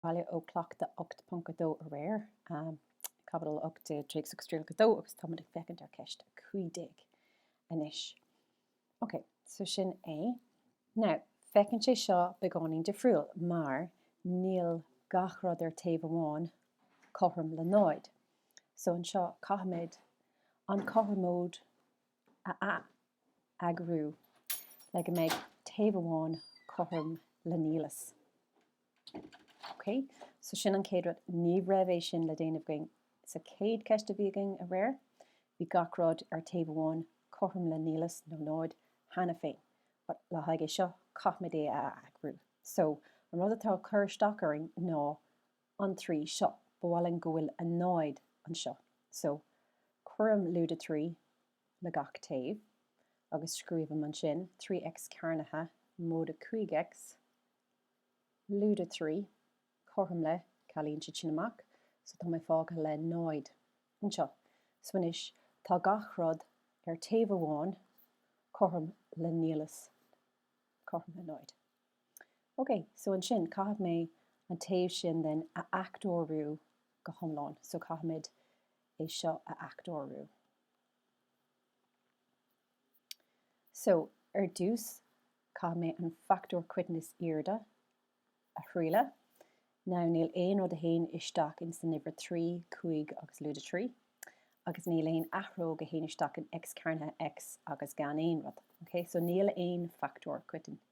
Baile ó Cleachtadh 8.2 aréir, Caibidil 18, Téacs agus Trialacha 2 agus táimid ag féachaint ar Cheist 15 anois. Ok, so sin é. Now, féachann sé seo beagáinín difriúil mar níl gach rud ar taobh amháin cothrom le náid. So anseo caithfimid an cothromóid a atheagrú le go mbeidh taobh amháin cothrom le nialas. Ok, so sin an chéad rud. Ní raibh sé sin le déanamh againn sa chéad cheist a bhí againn aréir. Bhí gach rud ar taobh amháin cothrom le nialas nó náid cheana féin. But le haghaidh é seo, caithfimid é a atheagrú. So an rud atá ag cur isteach orainn ná an trí seo. Ba mhaith linn go bhfuil a náid anseo. So, cuirim lúide trí le gach taobh agus scríobhaim ansin, trí X cearnaithe móide cúig X, lúide trí, cothrom le, cealaíonn siad sin amach, so tá mé fágtha le náid anseo. So anois, tá gach rud ar taobh amháin cothrom le nialas, cothrom le náid. OK, so ansin, caithfidh mé an taobh sin den a fhachtóiriú go hiomlán. So caithfimid é seo a fhachtóiriú. So, ar dtús, caithfidh mé an fachtóir coiteann is airde a thriail. Now, níl aon rud a théann isteach in san uimhir 3, 5 agus lúide 3. Agus níl aon athróg a théann isteach in X cearnaithe X agus gan aon rud. OK, so níl aon fachtóir coiteann.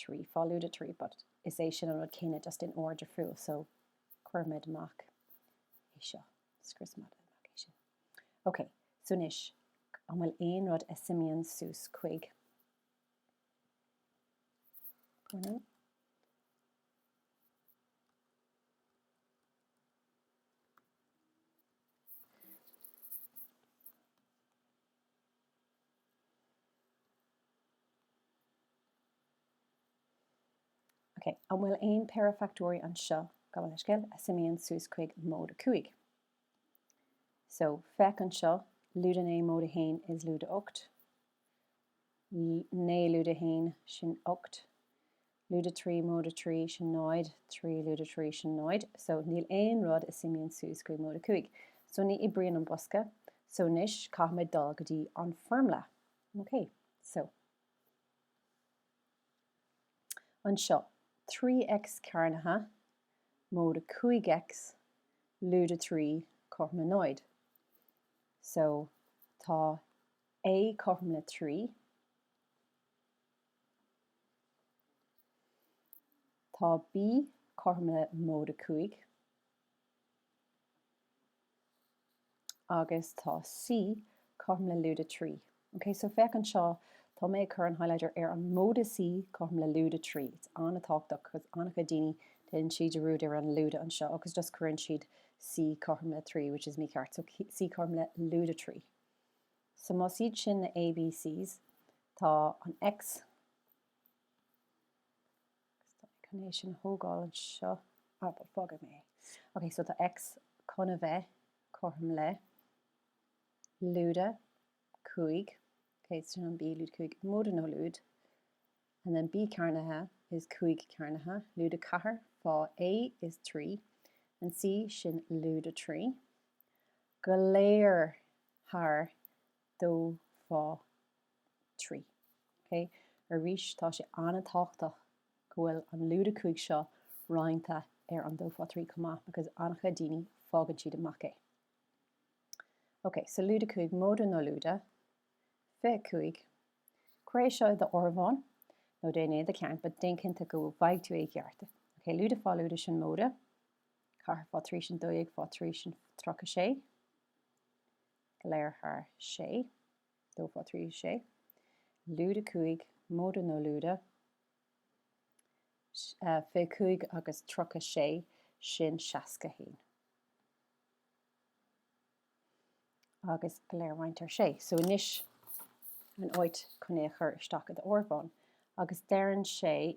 trí faoi lúide trí but is é sin an rud céanna just in ord difriúil so cuirimid amach é seo scriosaimid amach é sin ok so anois an bhfuil aon rud a suimíonn suas chuig pardon An bhfuil aon péire fachtóirí anseo, gabh mo leithscéal, a suimíonn suas chuig móide a cúig? So, féach anseo, lúide a naoi, móide a haon is lúide a hocht. Naoi lúide a haon, sin ocht. Lúide trí móide trí sin náid trí lúide trí sin náid so níl aon rud a suimíonn suas go dtí móide cúig so ní oibríonn an bosca so anois caithfimid dul go dtí an foirmle ok so anseo 3x cearnaithe móide 5x lúide trí cothrom le náid so tá a cothrom le trí Tá B cothrom le móide 5 agus tá C cothrom le lúide 3. OK, so féach anseo, tá mé ag cur an highlighter ar an móide C cothrom le lúide 3. It's an-tábhachtach cos an-chuid daoine déanann siad dearúd ar an lúide anseo agus just cuireann siad C cothrom le 3, which is mícheart. So C cothrom le lúide 3. So más iad sin na ABCs, tá an X, chun é sin a thógáil anseo, ah but fágfaidh mé é. Ok, so tá X chun a bheith cothrom le lúide 5, ok, so sin an B, lúide 5, móide nó lúide, and then B cearnaithe is 5 cearnaithe, lúide 4, fá A is 3, and C sin lúide 3. Go léir thar dó fá trí. Ok? Arís, tá sé an-tábhachtach go bhfuil an lúide 5 seo roinnte ar an dó fá trí chomh maith because an-chuid daoine, fágann siad amach é. Ok, so lúide 5, móide nó lúide, 25, cuir seo i d'áireamhán nó déan é i do cheann but déan cinnte go bhfaighidh tú é i gceart. Ok, lúide fá lúide sin móide, ceathair fá trí sin dó dhéag fá trí sin tríocha sé. Go léir thar sé, Dó Fá Trí Sé, lúide 5, Móide nó Lúide, fiche cúig agus Tríocha Sé sin seasca a haon. Agus go léir roinnte ar sé, So anois an áit chun é a chur isteach i d'áireamhán. Agus deireann sé.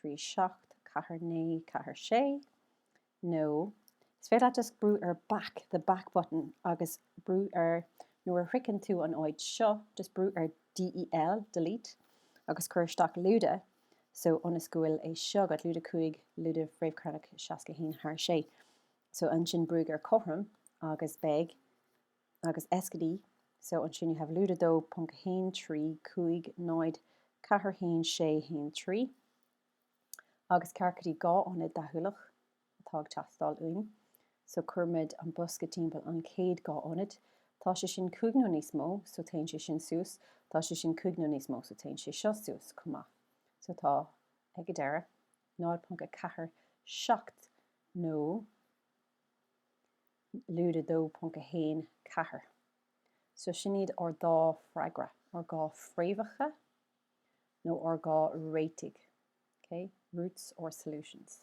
374946 nó is féidir leat just brú ar back, the back button agus brú ar nuair a shroicheann tú an áit seo just brú ar DEL, delete agus cuir isteach lúide so ionas go bhfuil é seo agat, lúide 5, lúide fréamh chearnach 61 thar 6 so ansin brúigh ar cothrom agus beidh. agus S go D, so ansin you have lúide 2.135041613 agus ceart go dtí dhá ionad deachúlach atá ag teastáil uainn, so cuirimid an bosca timpeall an chéad dhá ionad, tá sé sin cúig nó níos mó, so téann sé sin suas, tá sé sin cúig nó níos mó, so téann sé seo suas chomh maith. So tá ag an deireadh 0.47 nó. Lúide 2.14. So sin iad ár dá freagra, ár dhá fréamhacha nó ár dhá réitigh, okay? Roots or solutions.